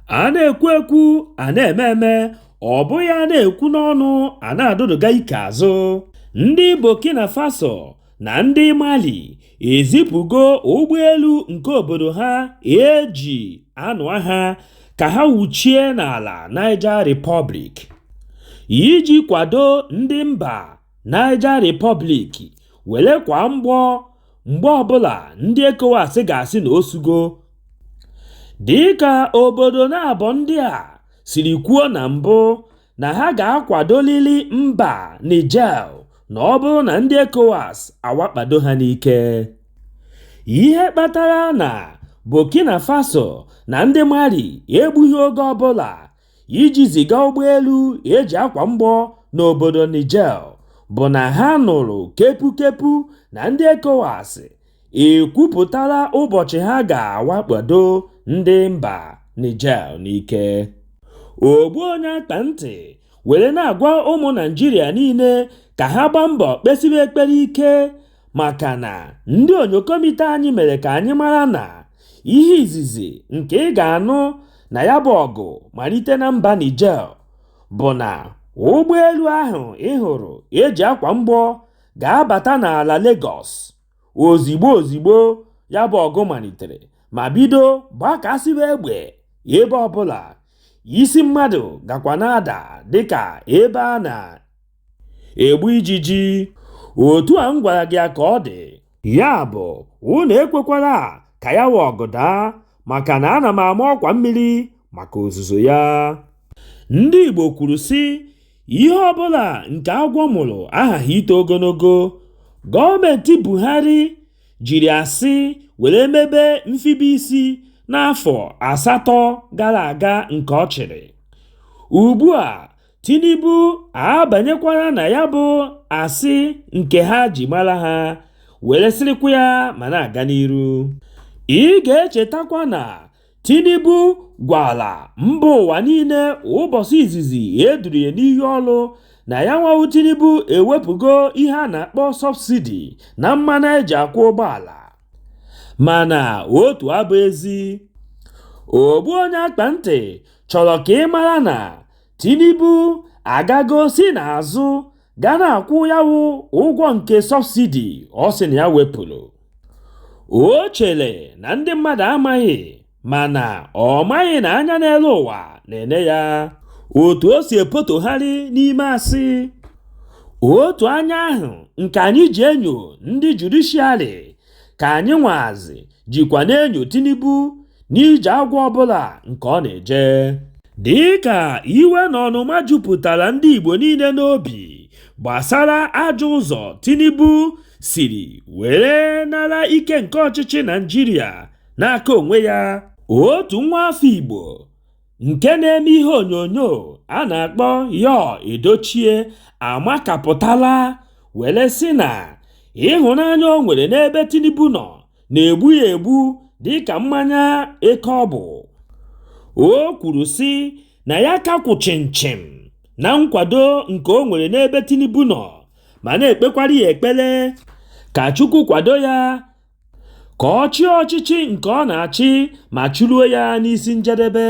A na-ekwu ekwu, a na-eme eme, ọ bụghị a na-ekwu n'ọnụ, a na-adụdụga ike azụ. Ndị Burkina Faso na ndị Mali ezipụgo ụgbọelu nke obodo ha eji anụ agha ka ha wuchie n'ala Niger Republic iji kwado ndị mba Niger Republic were kwa mgbọ mgbe ọbụla ndị ECOWAS ga-asị na o sugo dịka obodo naabọ ndị a siri kwuo na mbụ na ha ga-akwadolili mba Niger na ọ bụrụ na ndị ECOWAS awakpado ha n'ike. Ihe kpatara na Burkina Faso na ndị Mali egbughị oge ọbụla iji ziga ụgbọelu eji akwa mgbọ n'obodo Niger bụ na ha nụrụ kepukepu na ndị ECOWAS ekwupụtala ụbọchị ha ga-awakpado ndị mba Niger n'ike. Ogbu onye akpa ntị were na-agwa ụmụ Naịjirịa niile ka ha gbaa mbọ kpesiwe ekpere ike maka na ndị onyokomite anyị mere ka anyị mara na ihe izizi nke ị ga-anụ na ya bụ ọgụ malite na mba Niger bụ na ụgbọelu ahụ ị hụrụ eji akwa mgbọ ga-abata n'ala Lagos ozigbo ozigbo ya bụ ọgụ malitere ma bido gbakasịba egbe ebe ọbụla isi mmadụ gakwa na-ada dịka ebe a na egbu ijiji, otu a m gwara gị ya ka ọ dị. Ya bụ, unu ekwekwala ka ya wụ ọgụ daa, maka na ana m ama ọkwa mmiri maka ozuzo ya. Ndị Igbo kwuru sị, ihe ọbụla nke agwọ mụrụ aghaghị ito ogologo. Gọọmenti Buhari jiri asị were mebe mfibe isi n'afọ asatọ gara aga nke ọ chịrị. Ugbu a, Tinubu abanyekwara na ya bụ asị nke ha ji mara ha were sịrịkwa ya ma na-aga n'iru. Ị ga-echetakwa na Tinubu gwara mba ụwa niile ụbọchị izizi e duru ya n'iyi ọrụ na ya nwa wụ Tinubu ewepụgo ihe a na-akpọ sọbsidi na mmanụ e ji akwọ ụgbọala. Mana otu abụ ezi. Ogbu onye akpa ntị chọrọ ka ị mara na Tinubu agago si n'azụ ga na-akwụ ya wụ ụgwọ nke sọbsidi ọ sị na ya wepụrụ. O chere na ndị mmadụ amaghị mana ọ maghị na anya n'elu ụwa na-ene ya otu o si epotogharị n'ime asị. Otu anya ahụ nke anyị ji enyo ndị judishiarị ka anyị nwazi jikwa na-enyo Tinubu n'ije agwọ ọbụla nke ọ na-eje dịka iwe na ọnụma jupụtara ndị Igbo niile n'obi gbasara ajọ ụzọ Tinubu siri were nara ike nke ọchịchị Naịjirịa n'aka onwe ya otu nwa afọ Igbo nke na-eme ihe onyonyo a na-akpọ Yul Edochie amakapụtala were sị na ịhụnanya o nwere n'ebe Tinubu nọ na-egbu ya egbu dịka mmanya eke ọ bụ. O kwuru sị na ya ka kwụ chịmchịm na nkwado nke o nwere n'ebe Tinubu nọ ma na-ekpekwara ya ekpere ka Chukwu kwado ya ka ọ chịa ọchịchị nke ọ na-achị ma chịruo ya n'isi njedebe.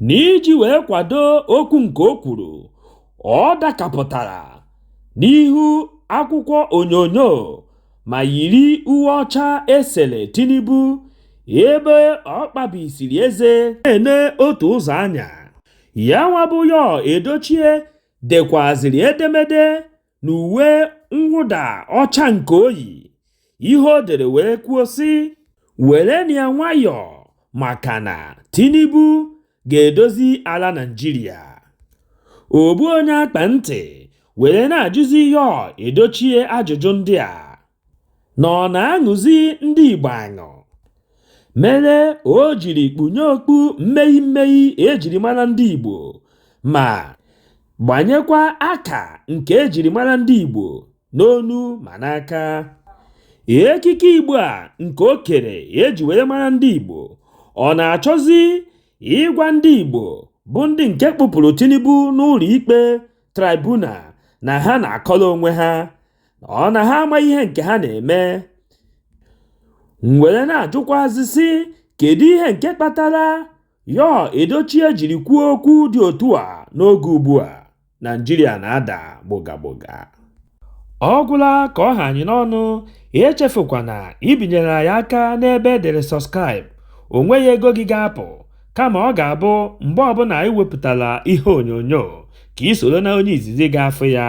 N'iji wee kwado okwu nke o kwuru, ọ dakapụtara n'ihu akwụkwọ onyonyo ma yiri uwe ọcha e sere Tinubu ebe ọ kpabisiri eze na-ene otu ụzọ anya. Yanwa bụ Yul Edochie dekwazịrị edemede n'uwe mwụda ọcha nke o yi ihe o dere wee kwuo sị werenụ ya nwayọọ maka na Tinubu ga-edozi ala Naịjirịa ogbu onye akpa ntị were na-ajụzi Yul Edochie ajụjụ ndị a na ọ na-aṅụzi ndị Igbo aṅụ mere o jiri kpunye okpu mmee mmee ejiri mara ndị Igbo ma gbanyekwa aka nke ejiri mara ndị Igbo n'onu ma n'aka ekike Igbo a nke o kere eji were mara ndị Igbo ọ na-achọzi ịgwa ndị Igbo bụ ndị nke kpụpụrụ Tinubu n'ụlọ ikpe tribunal na ha na-akọrọ onwe ha ọ na ha ama ihe nke ha na-eme were na-ajụkwazị sị kedu ihe nke kpatara Yul Edochie jiri kwuo okwu dị otu a n'oge ugbu a Naịjirịa na-ada gboga gboga ọ gwụla ka ọ ha anyị n'ọnụ echefukwana ibinyere anyị aka n'ebe e dere subscribe o nweghị ego gị ga-apụ kama ọ ga-abụ mgbe ọbụla anyị wepụtara ihe onyonyo ka i soro na onye izizi ga-afụ ya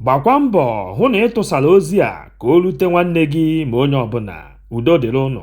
gbakwa mbọ hụ na ị tụsara ozi a ka o rute nwanne gị ma onye ọbụla udo dịrị ụnụ